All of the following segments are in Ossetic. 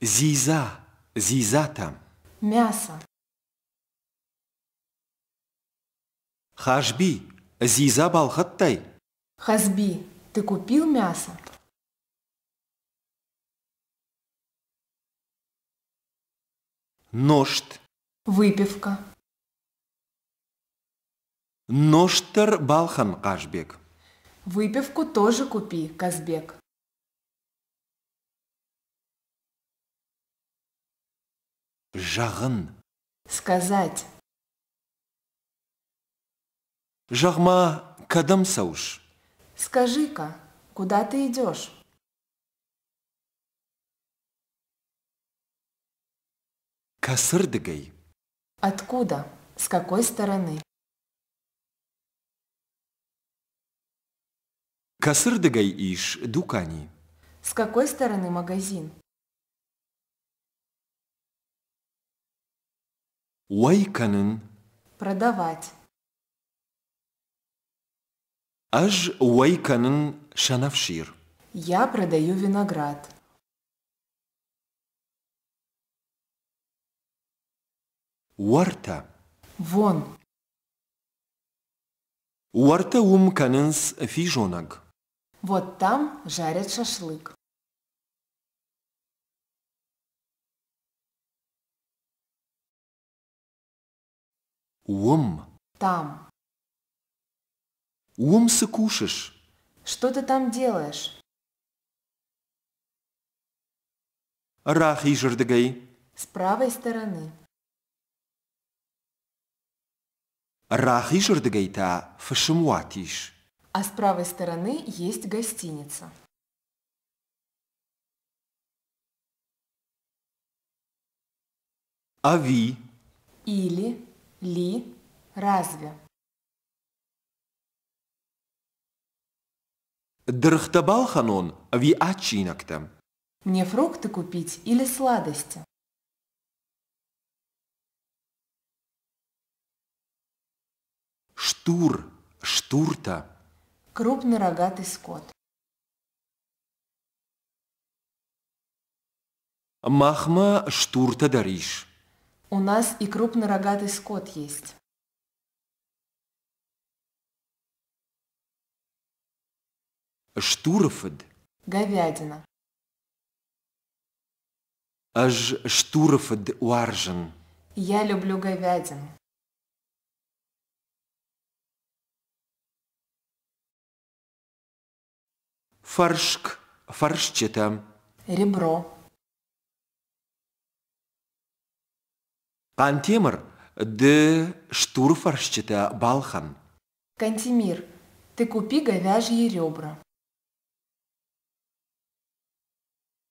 Дзидза, дзидзатӕм. Мӕсӕ. Хазби, дзидза балхӕдтай? Хазби, ты купил мясо? Ножт. Выпивка. Ножт дӕр балхӕн, Хъазбег. Выпивку тоже купи, Казбек. Зӕгъын. Сказать. Зӕгъ-ма, кӕдӕм цӕуыс? Скажи-ка, куда ты идешь? Косырдыгай. Откуда? С какой стороны? Кӕцырдыгӕй ис дукани? С какой стороны магазин? Уӕй кӕнын. Продавать. Ӕз уӕй кӕнын сӕнӕфсир. Я продаю виноград. Уӕртӕ. Вон. Уӕртӕ уым кӕнынц физонӕг. Вот там жарят шашлык. Уым. Там. Уым цы кушешь? Что ты там делаешь? Рахизырдыгӕй. С правой стороны. Рахизырдыгӕй та фысымуат ис. А с правой стороны есть гостиница. А ви? Или, ли, разве? Дыргътӕ балхӕнон ӕви адчинӕгтӕм? Мне фрукты купить или сладости? Стур, стуртӕ. Крупный рогатый скот. Махмӕ стуртӕ дӕр ис. У нас и крупный рогатый скот есть. Стуры фыд. Говядина. Ӕз стуры фыд уарзын. Я люблю говядину. Фӕрск, фӕрсчытӕ. Ребро. Хъантемыр ды стуры фӕрсчытӕ балхӕн. Кантемир, ты купи говяжьи ребра.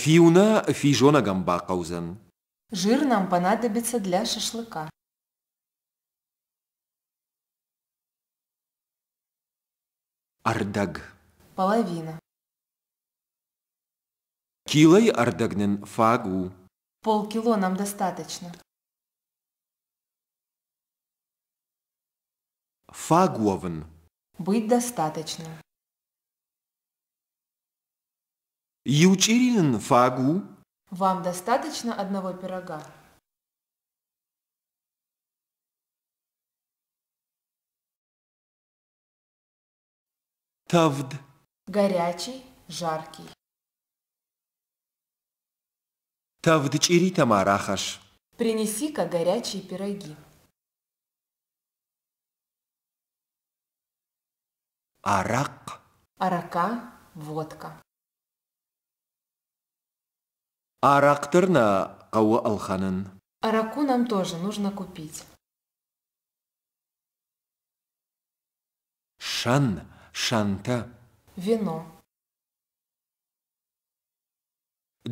Фиу нӕ физонӕгӕн бахъӕудзӕн. Жир нам понадобится для шашлыка. Ӕрдӕг. Половина. Килойы ӕрдӕг нын фаг у. Полкило нам достаточно. Фаг уӕвын. Быть достаточно. Иу чъири нын фаг у? Вам достаточно одного пирога? Товд. Горячий, жаркий. Товд чъиритӕ ма рахӕсс. Принеси-ка горячие пироги. Арахъхъ. Арака, водка. Арахъ дӕр нӕ хъӕуы ӕлхӕнын. Араку нам тоже нужно купить. Сӕн, сӕнтӕ. Вино.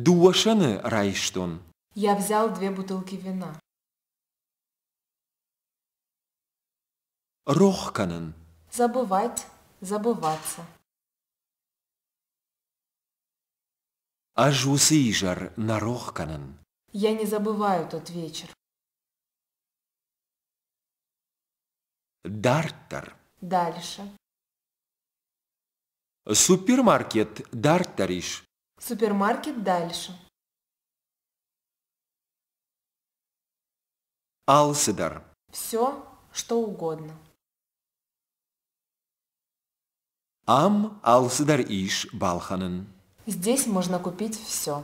Дыууӕ сӕны райстон. Я взял две бутылки вина. рох кӕнын. Забывать, забываться. Ӕз уыцы изӕр нӕ рох кӕнын. Я не забываю тот вечер. Дарддӕр. Дальше. Супермаркет дарддӕр ис. Супермаркет дальше. Алцыдӕр. Все, что угодно. Ам алцыдӕр ис балхӕнын. Здесь можно купить все.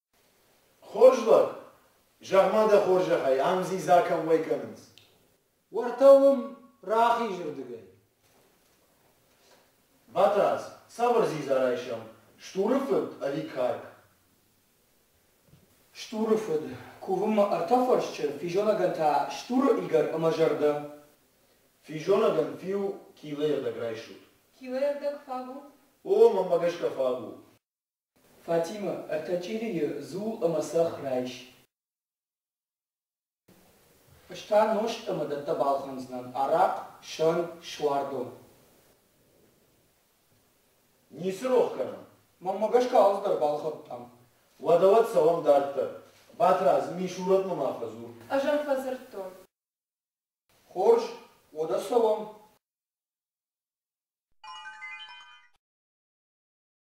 Хорз лӕг, зӕгъ-ма дӕ хорзӕхӕй, ам дзидза кӕуӕй кӕнынц? Уӕртӕ уым, рахизырдыгӕй. Батрадз, цавӕр дзидза райсӕм? Стуры фыд ӕви карк? Стуры фыд. Кувынмӕ ӕртӕ фӕрсчы, физонӕгӕн та стуры игӕр ӕмӕ зӕрдӕ. Физонӕгӕн фиу килыйӕрдӕг райсут. Килыйӕрдӕг фаг у? О, мӕнмӕ гӕсгӕ фаг у. Фатимӕ, ӕртӕ чъирийы дзул ӕмӕ цӕхх райс. Ӕз та нозт ӕмӕ дӕттӕ балхӕндзынӕн, арахъ, сӕн, суардон. Ницы рох кӕнӕм, мӕнмӕ гӕсгӕ алцыдӕр балхӕдтам. Уӕдӕ уӕд цӕуӕм дарддӕр. Батрадз, мисурӕтмӕ ма фӕдзур. Ӕз ӕм фӕдзырдтон. Хорз, уӕдӕ цӕуӕм.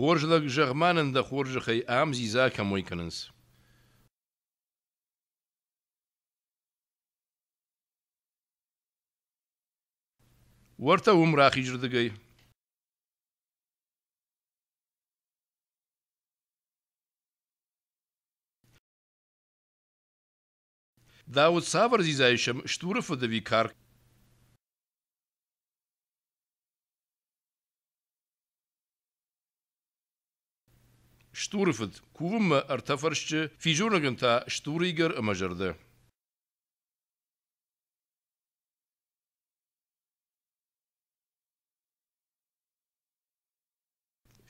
Хорз лӕг, зӕгъ-ма нын дӕ хорзӕхӕй ам дзидза кӕмӕй кӕнынц? Уӕртӕ уым рахизырдыгӕй. Дӕ уд цавӕр дзидзайы стуры фыд ӕви карк? Стуры фыд кувынмӕ ӕртӕ фӕрсчы, физонӕгӕн та стуры игӕр ӕмӕ зӕрдӕ.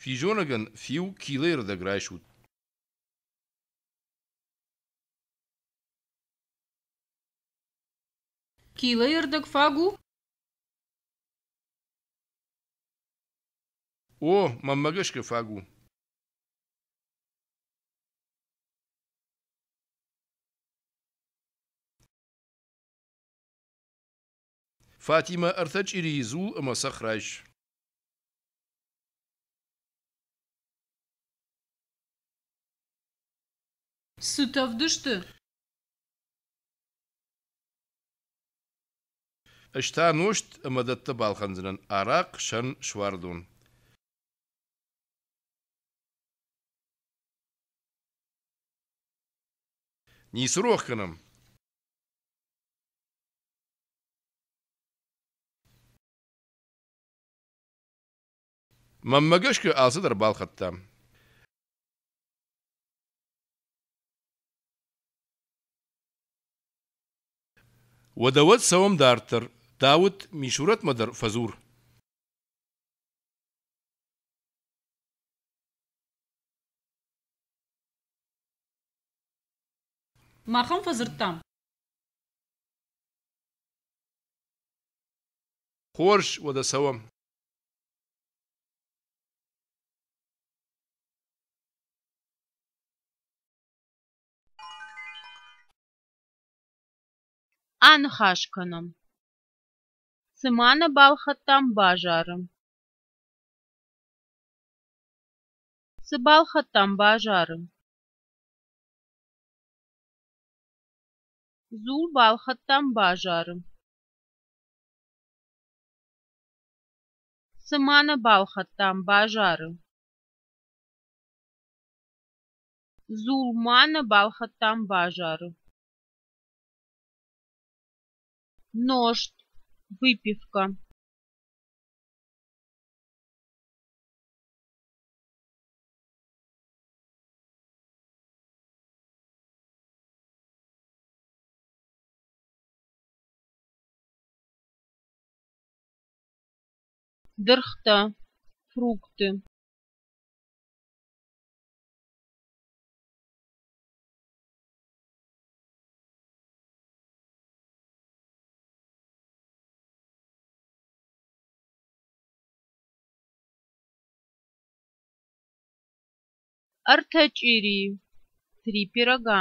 Физонӕгӕн фиу килӕй рдӕг райсут. Килӕйы рдӕг фаг у? О, мӕнмӕ гӕсгӕ фаг у. Фатимэ ӕртӕ чъирийы дзул ӕмӕ цӕхх райс. Цыт ӕвдысты. Ӕз та нозт ӕмӕ дӕттӕ балхӕндзынӕн арахъхъ сӕн суардон. Ницы рох кӕнӕм. Мӕнмӕ гӕсгӕ алцыдӕр балхӕдтам. Уӕдӕ уӕд цӕуӕм дарддӕр. Дауыт Мисурӕтмӕ дӕр фӕдзур. Махӕн фӕдзырдтам. Хорз, уӕдӕ цӕуӕм. Аныхас кӕнӕм, цыма нӕ балхӕдтам базары. Цы балхӕдтам базары? Дзул балхӕдтам базары. Цы ма нӕ балхӕдтам базары? Дзул ма нӕ балхӕдтам базары. Ножт, выпивка. дыргътӕ фрукты ӕртӕ чъири три пирога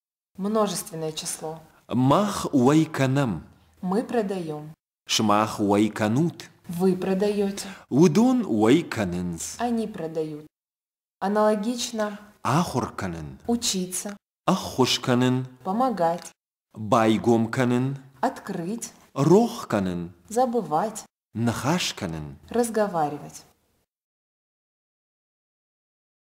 множественное число. Мах уӕй кӕнӕм. Мы продаем. Сымах уӕй кӕнут. Вы продаете. Уыдон уӕй кӕнынц. Они продают. Аналогично. Ахуыр кӕнын. Учиться. Ӕххуыс кӕнын. Помогать. Байгом кӕнын. Открыть. Рох кӕнын. Забывать. Ныхас кӕнын. Разговаривать.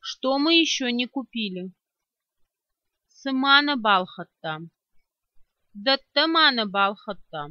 Что мы еще не купили? Цы ма нӕ балхӕдтам? Дӕттӕ ма нӕ балхӕдтам?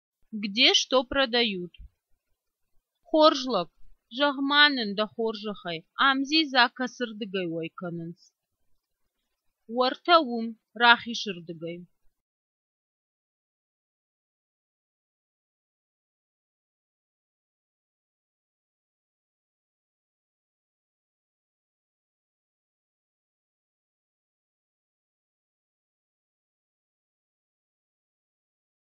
Где что продают. Хорз лӕг, зӕгъ-ма нын дӕ хорзӕхӕй, ам дзидзакӕсырдыгӕй уӕй кӕнынц. Уӕртӕ уым, рахизырдыгӕй.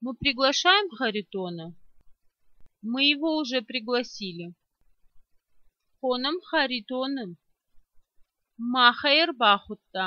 Мы приглашаем Харитона. Мы его уже пригласили. Хонӕм Харитоны. Махӕй ӕрбахуыдта.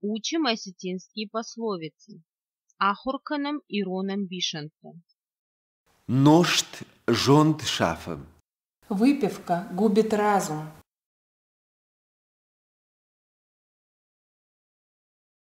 Учим осетинские пословицы. Ахуыр кӕнӕм ирон ӕмбисӕндтӕ. Ножт зонд шафы. Выпивка губит разум.